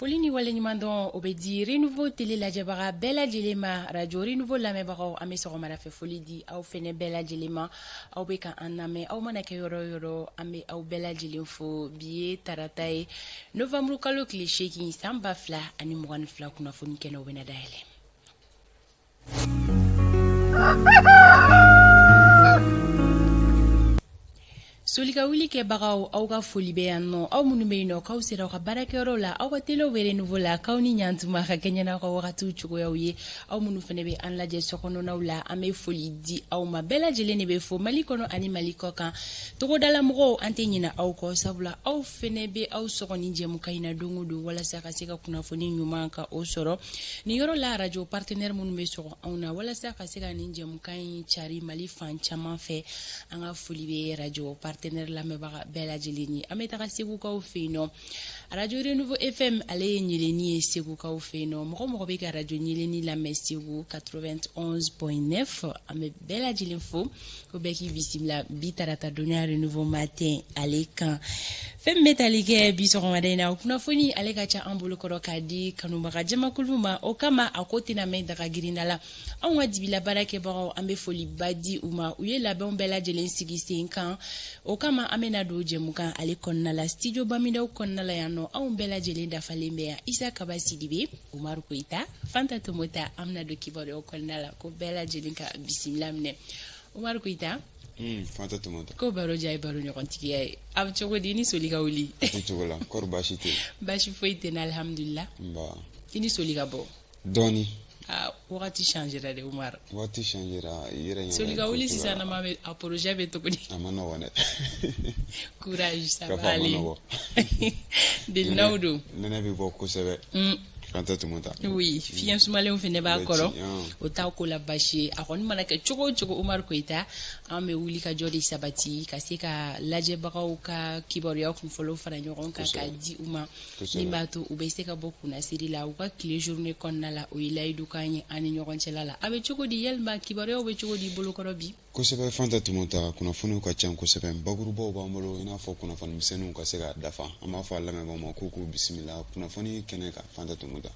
foli ni waleɲuman dɔn o bɛ di renouveau tele lajɛbaga bɛɛ lajɛlen ma radio renouveau lamɛnbagaw an bɛ sɔgɔmada fɛ foli di aw fɛnɛ bɛɛ lajɛlen ma aw bɛ ka an lamɛn aw mana kɛ yɔrɔ yɔrɔ an bɛ aw bɛɛ lajɛlen fo bi ye tarata ye novembre kalo tile seegin san ba fila ani mugan ni fila kunnafoni kɛnɛ o bɛna dayɛlɛ soli ka wuli kɛbagaw aw ka foli bɛ yan nɔ aw minnu bɛ yen nɔ k'aw sera aw ka baarakɛyɔrɔ la aw ka telew bɛ renouveau la k'aw ni ɲantuma ka kɛɲɛ n'aw ka wagatiw cogoyaw ye aw minnu fana bɛ an lajɛ sokɔnɔnaw la an bɛ foli di aw ma bɛɛ lajɛlen de bɛ fo mali kɔnɔ ani mali kɔkan togodala mɔgɔw an tɛ ɲinɛ aw kɔ sabula aw fɛnɛ bɛ aw sɔgɔ nin jɛmukan in na don o don walasa ka se ka kunnafoni ɲuman ka o sɔrɔ nin yɔrɔ la arajo partenɛri minnu bɛ sɔgɔ anw na walasa ka se ka nin jɛmukan in cari mali fan caman fɛ an ka foli bɛ arajo partenɛri lamɛnbaga bɛɛ lajɛlen ye an bɛ taga segukaw fɛ yen nɔ arajo renouveau fm ale ye ɲeleni ye segukaw fɛ yen nɔ mɔgɔ mɔgɔ bɛ ka arajo ɲeleni lamɛn segu 91.9 an bɛ bɛɛ lajɛlen fo ko bɛɛ k'i bisimila bi tarata donya renouveau matin ale kan fɛn min bɛ tali kɛ bi sɔgɔmada in na o kunnafoni ale ka ca an bolokɔrɔ k'a di kanubaga jamakulu ma o kama a ko tɛna mɛn daga girinda la anw ka dibi la baarakɛbagaw an bɛ foliba di u ma u ye labɛnw bɛɛ lajɛlen sigi sen kan o kama an bɛna don jɛmukan ale kɔnɔna la studio bamidaw kɔnɔna la yan nɔ anw bɛɛ lajɛlen dafalen bɛ yan isa kaba sidibe umaru koyita fanta tomota an bɛna don kibaruyaw kɔnɔna la ko bɛɛ lajɛlen ka bisimila minɛ umaru koyita hmm, fanta tomota ko baro diya ye baro ɲɔgɔntigiya ye a bɛ cogo di ni soli ka wuli cogo la kɔri baasi tɛ baasi foyi tɛ n na alihamudulila i ni soli ka bɔ dɔɔni ah, wagati changera de umaru wagati changera yɛrɛ soli ka wuli sisan nama bɛ a projet bɛ cogo di a man nɔgɔn dɛ courage ça va aller delinaw don nɛnɛ bɛ bɔ kosɛbɛ hmm. Fanta Tomota oui fiɲɛ sumalenw fɛnɛ b'a kɔrɔ o bɛ ci, ɔn. o t'a ko la baasi ye a kɔni mana kɛ cogo o cogo Umaru Koyita an bɛ wuli ka jɔ de sabati ka se ka lajɛbagaw ka kibaruya kunfɔlɔw fara ɲɔgɔn kan k'a di u ma Kosɛbɛ. min b'a to u bɛ se ka bɔ kunnasiri la u ka tile journée kɔnɔna la o ye layidukan ye an ni ɲɔgɔn cɛla la a bɛ cogo di yalima kibaruyaw bɛ cogo di bolokɔrɔ bi kosɛbɛ fanta tomota kunnafoniw ka ca kosɛbɛ bakurubaw b'an bolo i n'a fɔ kunnafoni misɛnninw ka se ka dafa an b'a fɔ a lamɛnbaaw ma k'u k'u bisimila kunnafoni kɛnɛ kan fanta tomota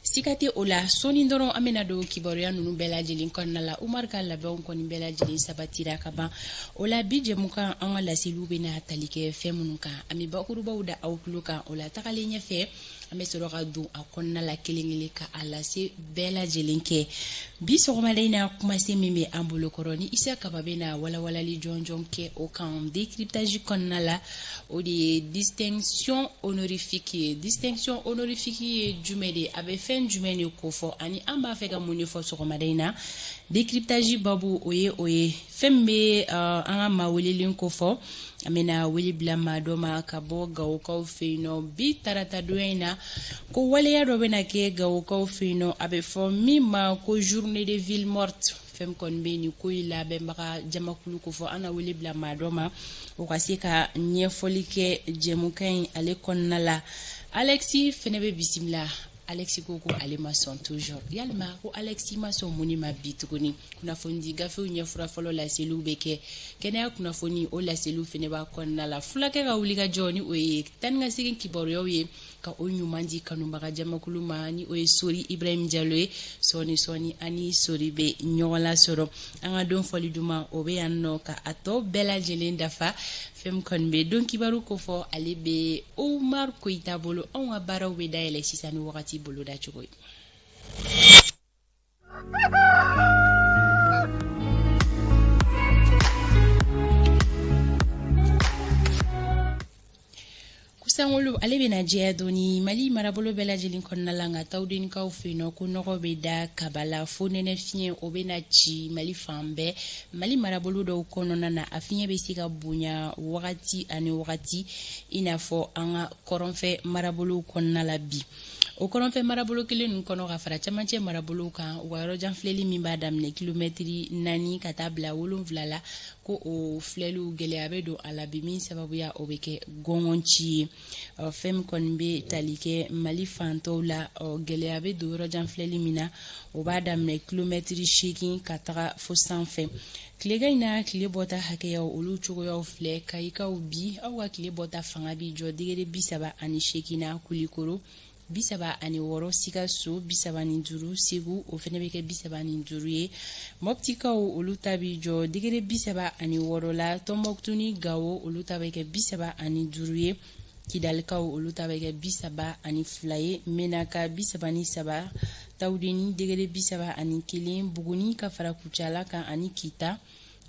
siga tɛ o la sɔɔni dɔrɔn an bɛna don kibaruya ninnu bɛɛ lajɛlen kɔnɔna la umar ka labɛnw kɔni bɛɛ lajɛlen sabatira ka ban o la bi jɛmukan an ka laseliw bɛna tali kɛ fɛn minnu kan an bɛ bakurubaw da aw tulo kan o la tagalen ɲɛfɛ an bɛ sɔrɔ ka don a kɔnɔna la kelen kelen ka a lase bɛɛ lajɛlen kɛ bi sɔgɔmada in na kumasen min bɛ an bolokɔrɔ ni isa kaba bɛna walawalali jɔnjɔn kɛ o kan décryptage kɔnɔna la o de ye distinction honorifique ye distinction honorifique ye jumɛn de ye a bɛ fɛn jumɛn de kofɔ ani an b'a fɛ ka mun de fɔ sɔgɔmada in na décryptage babu o ye o ye fɛn min bɛ uh, an ka maa welelen kofɔ an bɛna wele bila maa dɔ ma ka bɔ gawokaw fɛ yen nɔ bi taratadonya in na ko waleya dɔ bɛna kɛ gawokaw fɛ yen nɔ a bɛ fɔ min ma ko journée de ville morte fɛn kɔni bɛ nin ko in labɛnbaga jamakulu kofɔ an na wele bila maa dɔ ma o ka se ka ɲɛfɔli kɛ jɛmukan in ale kɔnɔna la alexis fɛnɛ bɛ bisimila alexis ko ko ale ma sɔn toujours yalima ko alexis ma sɔn mun ma bi tuguni kunnafonidi gafew ɲɛfura fɔlɔ laseliw bɛ kɛ kɛnɛya kunnafoni o laseliw fɛnɛ b'a kɔnɔna la fulakɛ ka wuli ka jɔ ni o ye taa ni ka segin kibaruyaw ye ka o ɲuman di kanubaga jamakulu ma ni o ye sori ibrahim jalo ye sɔɔni sɔɔni an ni sori bɛ ɲɔgɔn lasɔrɔ an ka don fɔli duman o bɛ yan nɔ ka a tɔ bɛɛ lajɛlen dafa fɛn min kɔni bɛ don kibaru kofɔ ale bɛ omar koyita bolo anw ka baaraw bɛ dayɛlɛ sisan ni wagati boloda cogo ye ko sankolo ale bɛna jɛya dɔɔni mali marabolo bɛɛ lajɛlen kɔnɔna la nka tawudenikaw fɛ yen nɔ ko nɔgɔ bɛ da kaba la fonɛnɛ fiɲɛ o bɛna ci mali fan bɛɛ mali marabolo dɔw kɔnɔna na a fiɲɛ bɛ se ka bonya wagati ani wagati i n'a fɔ an ka kɔrɔnfɛ marabolo kɔnɔna la bi o kɔrɔnfɛ marabolo kelen ninnu kɔnɔ ka fara camancɛ marabolo kan u ka yɔrɔjanfilɛli min b'a daminɛ kilomɛtiri naani ka taa bila wolonwula la ko o filɛliw gɛlɛya bɛ don a la bi min sababuya o bɛ kɛ gɔngɔn ci ye fɛn min kɔni bɛ tali kɛ mali fan tɔw la gɛlɛya bɛ don yɔrɔ jan filɛli min na o b'a daminɛ kilomɛtiri seegin ka taga fo sanfɛ tilegan in na tile bɔta hakɛyaw olu cogoyaw filɛ kayikaw bi aw ka tile bɔta fanga bi jɔ degere bisaba ani seegin na kulikoro bisaba ani wɔɔrɔ sikaso bisaba ni duuru segu o fɛnɛ bɛ kɛ bisaba ni duuru ye mɔptikaw olu ta bi jɔ degere bisaba ani wɔɔrɔ la tɔnbɔkutu ni gawo olu ta bɛ kɛ bisaba ani duuru ye kidalikaw olu ta bɛ kɛ bisaba ani fila ye menaka bisaba ni saba tawudeni degere bisaba ani kelen buguni ka fara kucala kan ani kita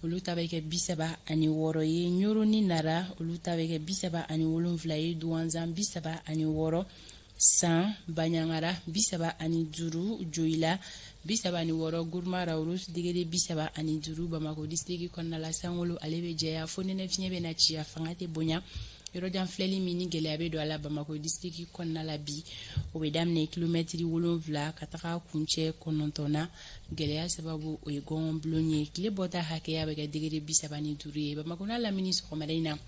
olu ta bɛ kɛ bisaba ani wɔɔrɔ ye ɲoro ni nara olu ta bɛ kɛ bisaba ani wolonfila ye duwanzan bisaba ani wɔɔrɔ san baɲangara bisaba ani duuru joyila bisaba ani wɔɔrɔ guruma rarusi degere bisaba ani duuru bamakɔ disitiriki kɔnɔna la sankolo ale bɛ jɛya fo nɛnɛ fiɲɛ bɛ na ci a fanga tɛ bonya yɔrɔjanfilɛli min ni gɛlɛya bɛ don a la bamakɔ disitiriki kɔnɔna la bi o bɛ daminɛ kilomɛtiri wolonfila ka taga kuncɛ kɔnɔntɔn na gɛlɛya sababu o ye gɔngɔn bilen ye tile bɔta hakɛya bɛ kɛ degere bi saba ni duuru ye bamakɔ n'a lamini sɔgɔmada in na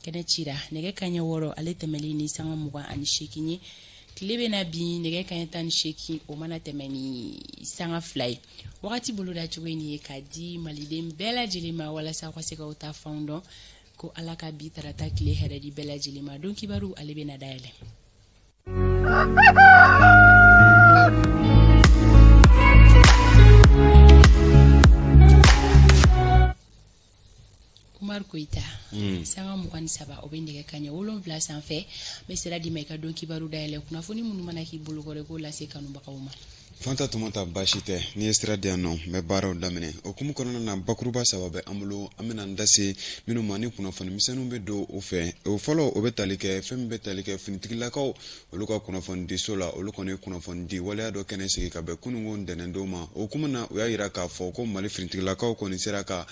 kɛnɛ cira nɛgɛ kaɲɛ wɔɔrɔ ale tɛmɛlen ni sanga mugan ani seegin ye tile bɛna bin nɛgɛ kaɲɛ tan ni seegin o mana tɛmɛ ni sanga fila ye wagati boloda cogo in ye ka di maliden bɛɛ lajɛlen ma walasa u ka se ka u taafanw dɔn ko ala ka bi tarata tile hɛrɛ di bɛɛ lajɛlen ma don kibaru ale bɛna dayɛlɛ Koyita hmm. sanga mugan ni saba o bɛ nɛgɛ kaɲɛ wolonfila sanfɛ n bɛ sira d'i ma i ka don kibaru dayɛlɛ kunnafoni minnu mana k'i bolo kɔrɔ i k'o lase kanubagaw ma fanta tuma ta baasi tɛ n'i ye sira di yan nɔ n bɛ baaraw daminɛ o hukumu kɔnɔna na bakuruba saba bɛ an bolo an bɛna an da se minnu ma ni kunnafoni misɛnninw bɛ don u fɛ o fɔlɔ o bɛ tali kɛ fɛn min bɛ tali kɛ finitigilakaw olu ka kunnafonidiso la olu kɔni ye kunnafonidi waleya dɔ kɛnɛ sigi ka bɛn kununko ntɛnɛndon ma o hukumu na u y'a jira k'a fɔ ko mali finitigilakaw kɔni sera ka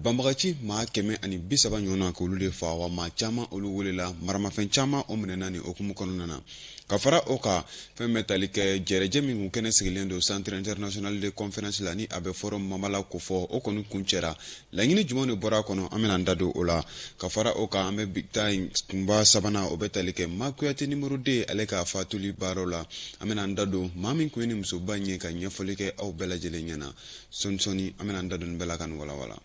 banbagaci maa kɛmɛ ani bi saba ɲɔgɔnna k'olu de fa wa maa caman olu welela maramafɛn caman o minɛna ni o hukumu kɔnɔna na ka fara o kan fɛn bɛ tali kɛ jɛrɛjɛ min kɔni kɛnɛ sigilen don centre international de conférence la ni a bɛ fɔ o ma mala ko fɔ o kɔni kuncɛra laɲini jumɛn de bɔra a kɔnɔ an bɛna an da don o la ka fara o kan an bɛ bi ta in kunba sabanan o bɛ tali kɛ ma kuyate numéro deux ale ka fatuli baaraw la an bɛna an da don maa min kɔni ye nin musoba in ye ka ɲɛfɔli kɛ aw bɛɛ lajɛlen ɲɛna sɔɔni sɔɔni an bɛna an da don nin bɛɛ la ka nin walawala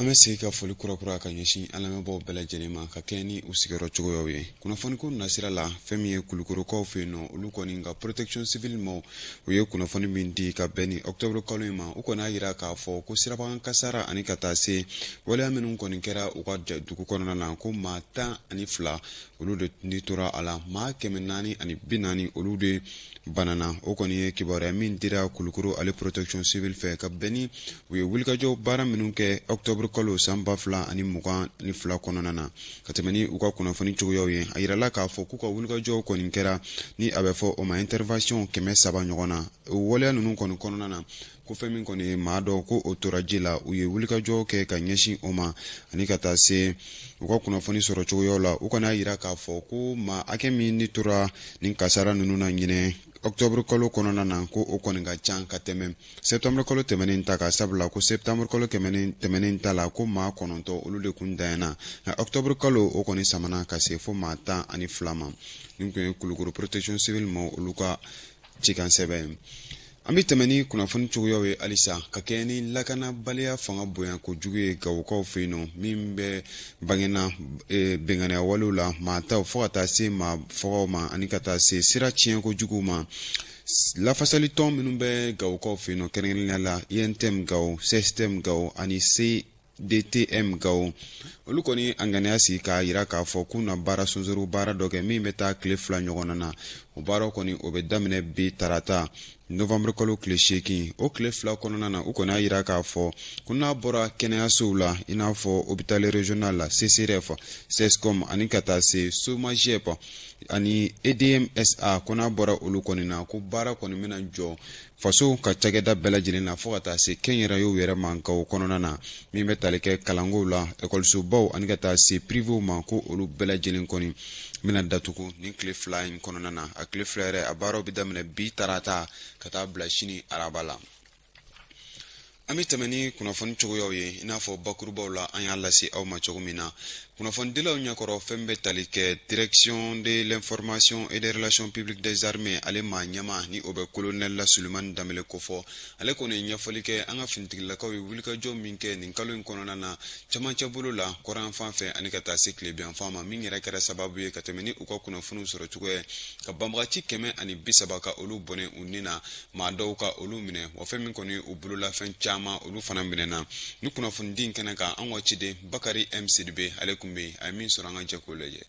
an bɛ segin ka foli kurakura ka ɲɛsin an lamɛnbaaw bɛɛ lajɛlen ma ka kɛɲɛ ni u sigiyɔrɔ cogoyaw ye kunnafoniko nasira la fɛn min ye kulukorokaw fɛ yen nɔ olu kɔni ka protection civile maaw ye kunnafoni min di ka bɛn ni octobre kalo in ma u kɔni y'a jira k'a fɔ ko sirabakan kasara ani ka taa se waleya minnu kɔni kɛra u ka dugu kɔnɔna na ko maa tan ani fila olu de ni tora a la maa kɛmɛ naani ani bi naani olu de banana o kɔni ye kibaruya min dira kulukoro ale protection civile fɛ ka bɛn ni u ye wulikajɔ baara minnu kɛ octobre kalo san ba fila ani mugan ni fila kɔnɔna na ka tɛmɛ ni u ka kunnafoni cogoyaw ye a yirala k'a fɔ k'u ka wulikajɔw kɔni kɛra ni a bɛ fɔ o ma intervention kɛmɛ saba ɲɔgɔn na o waleya ninnu kɔni kɔnɔna na ko fɛn min kɔni ye maa dɔ ko o tora ji la u ye wulikajɔ kɛ ka ɲɛsin o ma ani ka taa se u ka kunnafoni sɔrɔ cogoyaw la u kɔni y'a yira k'a fɔ ko maa hakɛ min ni tora nin kasara ninnu na ɲinɛ octobre kalo kɔnɔna na ko o kɔni ka can ka tɛmɛ septembre kalo tɛmɛnen ta kan sabula ko septembre kalo tɛmɛnen ta la ko maa kɔnɔntɔ olu de kun danyana nka octobre kalo o kɔni samana ka se fo maa tan ani fila ma nin kun ye kulukoro protection civile ma olu ka cikan sɛbɛn an bɛ tɛmɛ ni kunnafoni cogoyaw ye halisa ka kɛɲɛ ni lakanabaliya fanga bonya kojugu ye gawokaw fɛ yen nɔ min bɛ bangena e, bɛnganiya walew la maa taw fo ka taa se maa fɔgaw ma ani ka taa se sira tiɲɛ kojugu ma lafasali tɔn minnu bɛ gawokaw fɛ yen nɔ kɛrɛnkɛrɛnnenya la untm gawo cstm gawo ani c dtm gawo olu kɔni y'a ŋaniya sigi k'a jira k'a fɔ k'u na baara sonsoro baara dɔ kɛ min bɛ taa tile fila ɲɔgɔnna na o baaraw kɔni o bɛ daminɛ bi tarata novembre kalo tile seegin o tile fila kɔnɔna na u kɔni y'a jira k'a fɔ ko n'a bɔra kɛnɛyasow la i n'a fɔ hôpital régional la csref cscom ani ka taa se somagep ani edm sa ko n'a bɔra olu kɔni na ko baara kɔni bɛna jɔ faso ka cakɛda bɛɛ lajɛlen na fɔɔ ka taa se kɛnyɛrɛyew yɛrɛ ma gawo kɔnɔna na min bɛ tali kɛ kalankow la ekɔlisobaw ani ka taa se pirivew ma ko olu bɛɛ lajɛlen kɔni bɛna datugu nin tile fila in kɔnɔna na a tile fila yɛrɛ a baaraw bɛ daminɛ bi tarata ka taa bila sini araba la an bɛ tɛmɛ ni kunnafoni cogoyaw ye i n'a fɔ bakurubaw la an y'a lase aw ma cogo min na kunnafonidilaw ɲɛkɔrɔ fɛn bɛ tali kɛ direction de l'information et des relations publiques des armées ale maa ɲɛmaa ni o bɛ kolonɛli la sulemani danbele kofɔ ale kɔni ye ɲɛfɔli kɛ an ka finitigilakaw ye wulikajɔ min kɛ nin kalo in kɔnɔna na camancɛ bolo la kɔrɔn yanfan fɛ ani ka taa se tilebin yanfan ma min yɛrɛ kɛra sababu ye ka tɛmɛ ni u ka kunnafoniw sɔrɔ cogoya ka banbagaci kɛmɛ ani bisaba ka olu bɔnɛ u ni na maa dɔw ka olu minɛ wa fɛn min kɔni u bololafɛn caman olu fana minɛna ni kunnafonidi in kɛnɛ kan an ka ciden bakari m sidibe ale tun bɛ a ye min sɔrɔ an ka jɛ k'o lajɛ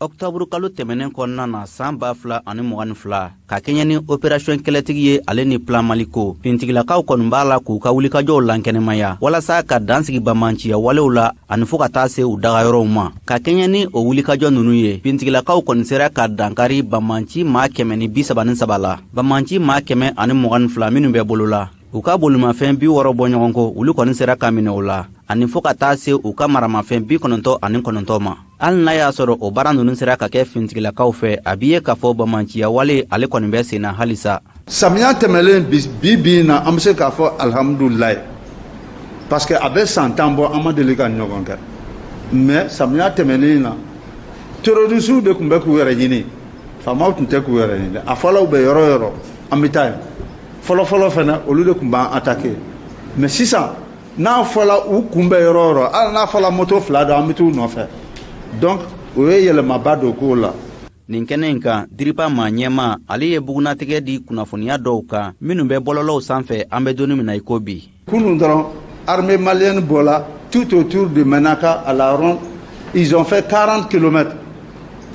ɔkutɔburu kalo tɛmɛnen kɔnɔna na san ba fila ani mugan ni fila ka kɛɲɛ ni operasiyɔn kɛlɛtigi ye ale ni plan maliko fintigilakaw kɔni b'a la k'u ka wulikajɔw lankɛnɛmaya walasa ka dan sigi bamanciya walew la ani fɔɔ ka taa se u dagayɔrɔw ma ka kɛɲɛ ni o wulikajɔ ninnu ye fintigilakaw kɔni sera ka dankari bamanci maa kɛmɛ ni bi saba ni saba la bamanci maa kɛmɛ ani mugan ni fila minnu bɛ bolo la u ka bolimafɛn bi wɔɔrɔ bɔ ɲɔgɔn ko olu kɔni sera ka minɛ o la ani fɔɔ ka taa se u ka maramafɛn bi kɔnɔntɔ ani kɔnɔntɔ ma hali n'a y'a sɔrɔ o baara ninnu sera ka kɛ fintigilakaw fɛ a b'i ye k'a fɔ bamanciya wale ale kɔni bɛ sen na halisa Samiya tɛmɛlen bi bi in na an bɛ se k'a fɔ alihamudulilayi parce que a bɛ san tan bɔ an ma deli k'a ɲɔgɔn kɛ mais samiya tɛmɛnen in na terrorisiw de tun bɛ k'u yɛrɛ ɲini faamaw tun tɛ k'u yɛrɛ ɲini a fɔla u bɛ yɔrɔ yɔrɔ an bɛ taa yen fɔlɔfɔlɔ fana olu de tun b'an attaquer mais sisan n'a fɔla u kun bɛ yɔrɔ o yɔrɔ hali n'a fɔla moto fila don an bɛ t'u nɔfɛ donc o ye yɛlɛmaba don ko la nin kɛnɛ in kan DIRPA maa ɲɛmaa ale ye bugunnatigɛ di kunnafoniya dɔw kan minnu bɛ bɔlɔlɔw sanfɛ an bɛ donni min na i ko bi kunun dɔrɔn armée malienne bɔla tout autour de Menaka à la ronde ils ont fait 40 kilomètres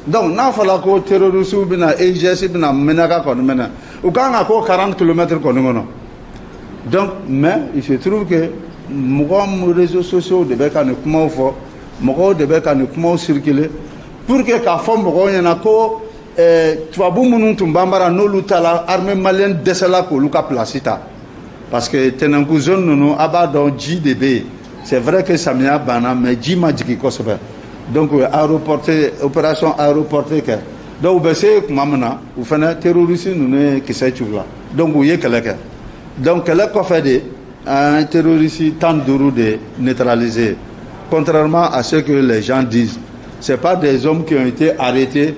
donc n'a fɔla ko terrorisiw bɛna EIGS bɛna Menaka kɔni minɛ u kan ka k'o 40 kilomètres kɔni kɔnɔ donc mais il se trouve que mɔgɔ réseaux sociaux de bɛ ka nin kumaw fɔ mɔgɔw de bɛ ka nin kumaw circuler pour que k'a fɔ mɔgɔw ɲɛna ko eh, tubabu minnu tun b'an bara n'olu taala armée malienne dɛsɛla k'olu ka place ta parce que tɛnɛnku zone ninnu a b'a dɔn ji de bɛ yen c'est vrai que samiya banna mais ji ma jigin kosɛbɛ donc u ye aéroporté opération aéroporté kɛ donc u bɛ se tuma min na u fana terroriste ninnu ye kisɛ ci u la donc u ye kɛlɛ kɛ donc kɛlɛ kɔfɛ de An ye terroriste 15 de neutraliser contrairement à ce que les gens disent c'est pas des hommes qui ont été arrêtés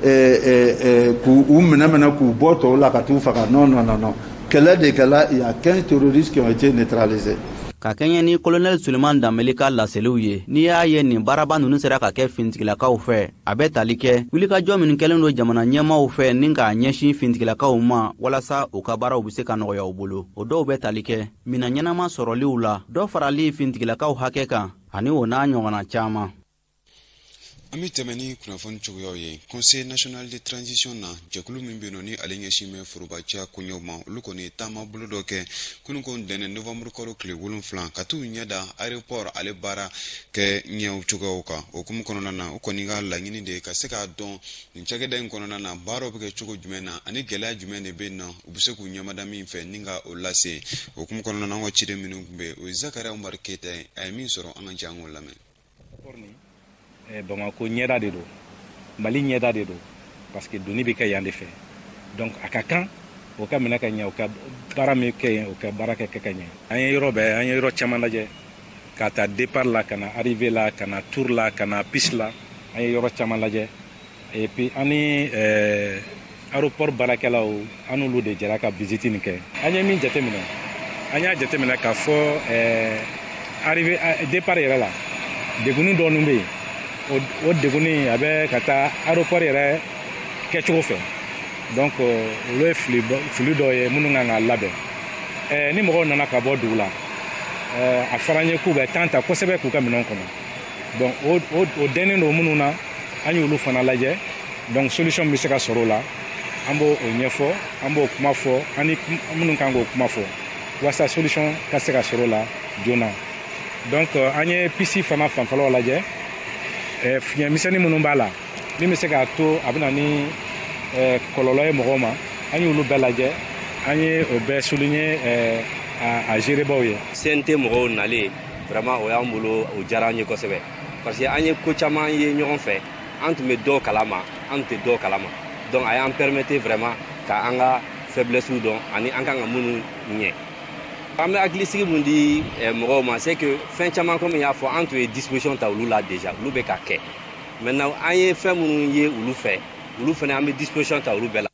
eh, eh, eh, k'u u minɛ minɛ k'u bɔ tɔw la ka t'u faga non non non non kɛlɛ de kɛla il y a 15 terroristes qui ont été neutralisés ka kɛɲɛ ni kolonɛli suleman danbele ka laseliw ye n'i y'a ye nin baaraba ninnu sera ka kɛ finitigilakaw fɛ a bɛ tali kɛ wulikajɔ minnu kɛlen don jamana ɲɛmaaw fɛ ni k'a ɲɛsin fintigilakaw ma walasa u ka baaraw bɛ se ka nɔgɔya u bolo o dɔw bɛ tali kɛ minɛn ɲɛnama sɔrɔliw la dɔ farali fintigilakaw hakɛ kan ani o n'a ɲɔgɔnna caman an bɛ tɛmɛ ni kunnafoni cogoyaw ye conseil national de transition na jɛkulu min bɛ yen nɔ ni ale ɲɛsin bɛ forobaciya koɲɛw ma olu kɔni ye taama bolo dɔ kɛ kunun ko ntɛnɛn novembre kalo tile wolonfila ka t'u ɲɛ da aéroport ale baara kɛ ɲɛw cogoyaw kan o hukumu kɔnɔna na u kɔni ka laɲini de ye ka se k'a dɔn nin cakɛda in kɔnɔna na baaraw bɛ kɛ cogo jumɛn na ani gɛlɛya jumɛn de bɛ na u bɛ se k'u ɲɛmada min fɛ ni ka o lase o hukumu kɔnɔna na an ka ciden minnu tun bɛ o ye zakariya umari keyita ye a ye min sɔrɔ an ka jɛ an k'o lamɛn bamakɔ ɲɛda de don mali ɲɛda de don parce que donni bɛ kɛ yan de fɛ donc a ka kan o ka minɛ ka ɲɛ o ka baara min kɛ yen o ka baara kɛ kɛ ka ɲɛ an ye yɔrɔ bɛɛ an ye yɔrɔ caman lajɛ k'a ta départ la ka na arrivée la ka na tour la ka na piste la an ye yɔrɔ caman lajɛ Et puis an ni euh, aéroport baarakɛlaw an n'olu de jɛra ka visite nin kɛ an ye min jateminɛ an y'a jateminɛ k'a fɔ euh, arrivée euh, départ yɛrɛ la degunni dɔɔni bɛ yen o degunni a bɛ ka taa aéroport yɛrɛ kɛcogo fɛ donc olu ye fili fili dɔ ye minnu kan ka labɛn ɛɛ ni mɔgɔw nana ka bɔ dugu la a fɔra an ye k'u bɛ temps ta kosɛbɛ k'u ka minɛnw kɔnɔ donc o dɛnnen don minnu na an y'olu fana lajɛ donc solution bɛ se ka sɔrɔ o la an b'o ɲɛfɔ an b'o kuma fɔ an ni minnu kan k'o kuma fɔ walasa solution ka se ka sɔrɔ o la joona donc euh, an ye piste fana fanfɛlaw lajɛ euh, fiɲɛ misɛnnin minnu b'a la min bɛ se k'a to a bɛ na ni euh, kɔlɔlɔ ye mɔgɔw ma an y'olu bɛɛ lajɛ an ye o bɛɛ souligner a gérebaw ye cnt mɔgɔw nalen vraiment o y'an bolo o diyara an ye kosɛbɛ parce que an ye ko caman ye ɲɔgɔn fɛ an tun bɛ dɔw kalama an tun tɛ dɔw kalama donc a y'an permettre vraiment ka an ka faiblessew dɔn ani an kan ka minnu ɲɛ an bɛ hakilisigi min di eh, mɔgɔw ma c'est que fɛn caman komi y'a fɔ an tun ye disposition ta olu la déjà olu bɛ ka kɛ maintenant an ye fɛn minnu ye olu fɛ olu fana an bɛ disposition ta olu bɛɛ la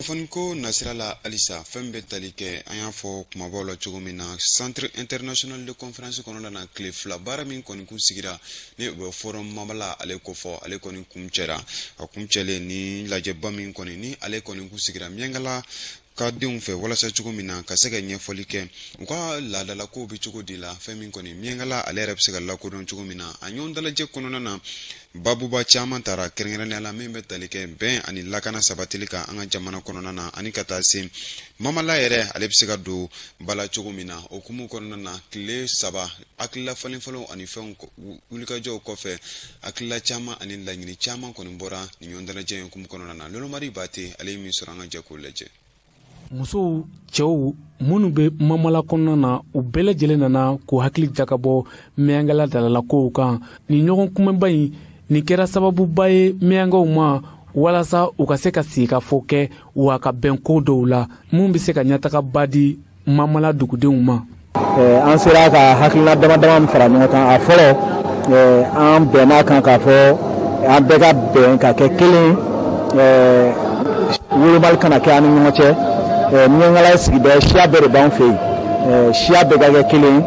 kunnafoni ko nasira la halisa fɛn bɛ tali kɛ an y'a fɔ kumabaw la cogo min na centre international de conférence kɔnɔna na tile fila baara min kɔni kun sigira ni o bɛ forum mamala ale kofɔ ale kɔni kun cɛra a kun cɛlen ni lajɛba min kɔni ni ale kɔni kun sigira miyankala ka denw fɛ walasa cogo min na ka se ka ɲɛfɔli kɛ u ka laadalakow bɛ cogo di la fɛn min kɔni miyankala ale yɛrɛ bɛ se ka lakodɔn cogo min na a ɲɔgɔn dalajɛ kɔnɔna na Baabuba caman tara kɛrɛnkɛrɛnnenya la min bɛ tali kɛ bɛn ani lakana sabatili kan an ka jamana kɔnɔna na ani ka taa se mamala yɛrɛ ale bɛ se ka don ba la cogo min na o kumu kɔnɔna na tile saba hakilila falenfalen ani fɛnw wulikajɔw kɔfɛ hakilila caman ani laɲini caman kɔni bɔra nin ɲɔgɔndalajɛ in kumu kɔnɔna na Lolomari Bate ale ye min sɔrɔ an ka jɛ k'o lajɛ musow cɛw minnu bɛ mamala kɔnɔna na u bɛɛ lajɛlen nana k'u hakili jakabɔ miyankala laadalakow kan nin ɲɔgɔn kunbɛnba in nin kɛra sababuba ye miyankaw ma walasa u ka se ka sigikafɔ kɛ wa ka bɛn ko dɔw la minnu bɛ se ka ɲɛtagaba di mamala dugudenw ma eh, an sera ka hakilina dama dama min fara ɲɔgɔn kan a fɔlɔ eh, an bɛnn'a kan k'a fɔ an bɛɛ ka bɛn ka kɛ kelen eh, wolomali kana kɛ an ni ɲɔgɔn cɛ miyankala ye sigida ye siya bɛɛ de b'an fɛ yen siya bɛɛ ka kɛ kelen ye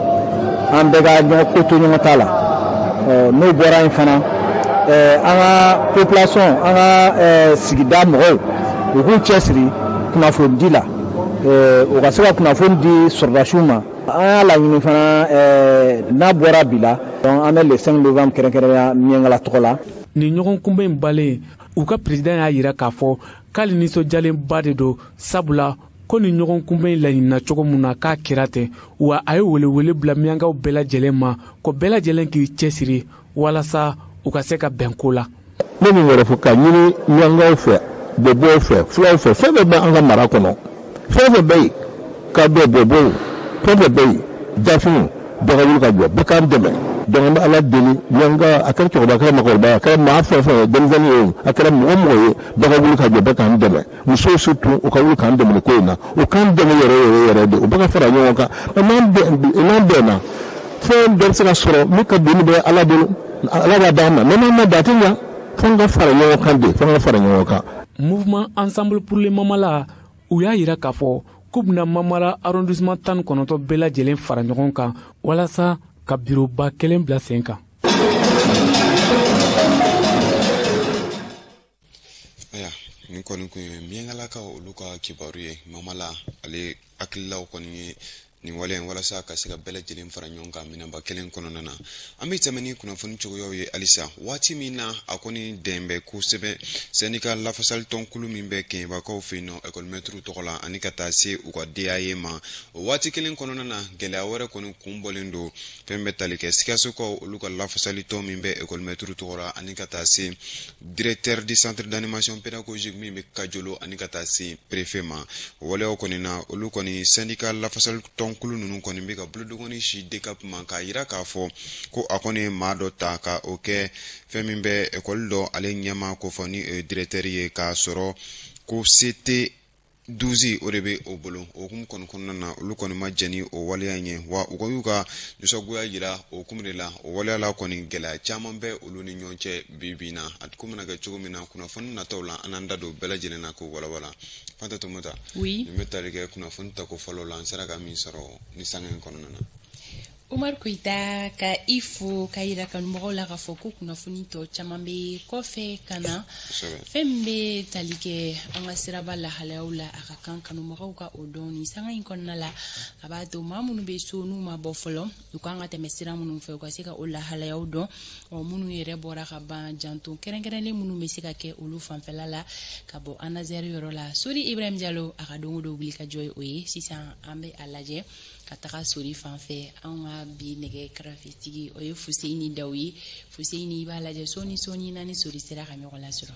an bɛɛ ka ɲɔgɔn ko to ɲɔgɔn ta la n'o bɔra yen fana an ka population an ka sigida mɔgɔw u k'u cɛsiri kunnafonidi la eh, o ka se ka kunnafoni di sɔrɔdasiw ma an y'a laɲini fana eh, n'a bɔra bi la an bɛ le 5 novembre kɛrɛnkɛrɛnya miyankala tɔgɔ la nin ɲɔgɔn kunbɛn in banlen u ka peresidan y'a yira k'a fɔ k'ale nisɔndiyalenba de don sabula ko nin ɲɔgɔn kunbɛn in laɲinina cogo min na k'a kɛra ten wa a ye welewele bila miyankaw bɛɛ lajɛlen ma ko bɛɛ lajɛlen k'i cɛsiri walasa u ka se ka bɛn ko la ne min wɛrɛ fɔ ka ɲini miyankaw fɛ bɔbɔw fɛ fulaw fɛ fɛn fɛn bɛ an ka mara kɔnɔ fɛn fɛn bɛ yen kadɔ bɔbɔw fɛn fɛn bɛ yen dafinw bɛɛ ka wuli ka jɔ bɛɛ k'an dɛmɛ donc an bɛ ala deli miyanka a kɛra cɛkɔrɔba a kɛra makɔrɔba a kɛra maa fɛn fɛn ye denmisɛnnin ye a kɛra mɔgɔ mɔgɔ ye bɛɛ ka wuli ka jɔ bɛɛ k'an dɛmɛ musow surtout u ka wuli k'an dɛmɛ ko in na u k'an dɛmɛ yɛrɛ yɛrɛ yɛrɛ de u bɛɛ ka fara ɲɔgɔn kan n'an bɛnna fɛn bɛɛ bɛ se ka sɔrɔ min ka doni bɛ ala bolo ala b'a d'an ma mais n'an ma da a tɛ ɲa fo an ka fara ɲɔgɔn kan de fo an ka fara ɲɔgɔn kan. mouvement ensemble pour le mamala u y'a yira k'a fɔ k'u bɛna mamala arrondissement tan ni kɔnɔntɔn bɛɛ lajɛlen fara ɲɔgɔn kan walasa ka biroba kelen bila sen kan. ayiwa nin kɔni tun ye miyankalakaw olu ka kibaru ye mamala ale hakililaw kɔni ye nin wale in walasa ka se ka bɛɛ lajɛlen fara ɲɔgɔn kan minɛnba kelen kɔnɔna na an bɛ tɛmɛ ni kunnafoni cogoyaw ye halisa waati min na a kɔni dɛmɛ bɛ kosɛbɛ syndicat lafasali tɔnkulu min bɛ kɛɲɛbakaw fɛ yen nɔ ekɔlimɛtiriw tɔgɔ la ani ka taa se u ka DAE ma o waati kelen kɔnɔna na gɛlɛya wɛrɛ kɔni kun bɔlen don fɛn bɛ tali kɛ sikasokaw olu ka lafasali tɔn min bɛ ekɔlimɛtiriw tɔgɔ la ani ka taa se Directeur du centre d'animation pédagogique min bɛ Kajolo ani ka taa se préfet ma o waleyaw kɔni na olu kɔni syndicat lafasali tɔnkulu ninnu kɔni bɛ ka bolodengɔnnin sin DCAP ma k'a yira k'a fɔ ko a kɔni ye maa dɔ ta ka o kɛ fɛn min bɛ école dɔ ale ɲɛmaa ko fɔ ni o ye directeur ye k'a sɔrɔ ko CT 12 o de bɛ o bolo o hukumu kɔni kɔnɔna na olu kɔni ma jɛn ni o waleya in ye wa u kɔni y'u ka nisɔngoya jira o hukumu de la o waleya la kɔni gɛlɛya caman bɛ olu ni ɲɔgɔn cɛ bi bi in na a ko mana kɛ cogo min na kunnafoni nataw la an n'an da don bɛɛ lajɛlen na k'o walawala Fanta Tumata oui nin bɛ tali kɛ kunnafoni tako fɔlɔ la n sera ka min sɔrɔ nin sanga in kɔnɔna na Umaru Koyita ka i fo ka yira kanumɔgɔw la k'a fɔ ko kunnafoni tɔ caman bɛ kɔfɛ ka na fɛn min bɛ tali kɛ an ka siraba lahalayaw la a ka kan kanumɔgɔw ka o dɔn nin sanga in kɔnɔna la a b'a to maa minnu bɛ so n'u ma bɔ fɔlɔ u kan ka tɛmɛ sira minnu fɛ u ka se ka o lahalayaw dɔn ɔ minnu yɛrɛ bɔra ka ban janto kɛrɛnkɛrɛnnen minnu bɛ se ka kɛ olu fanfɛla la ka bɔ ANASER yɔrɔ la sori ibrahim jalo a ka don o don wuli ka jɔ ye o ye sisan an bɛ a lajɛ ka taga sori fan fɛ anw ka bi nɛgɛ karafetigi o ye fuseyini daw ye fuseyini i b'a lajɛ sɔɔni sɔɔni n'an ni sori sera ka ɲɔgɔn lasɔrɔ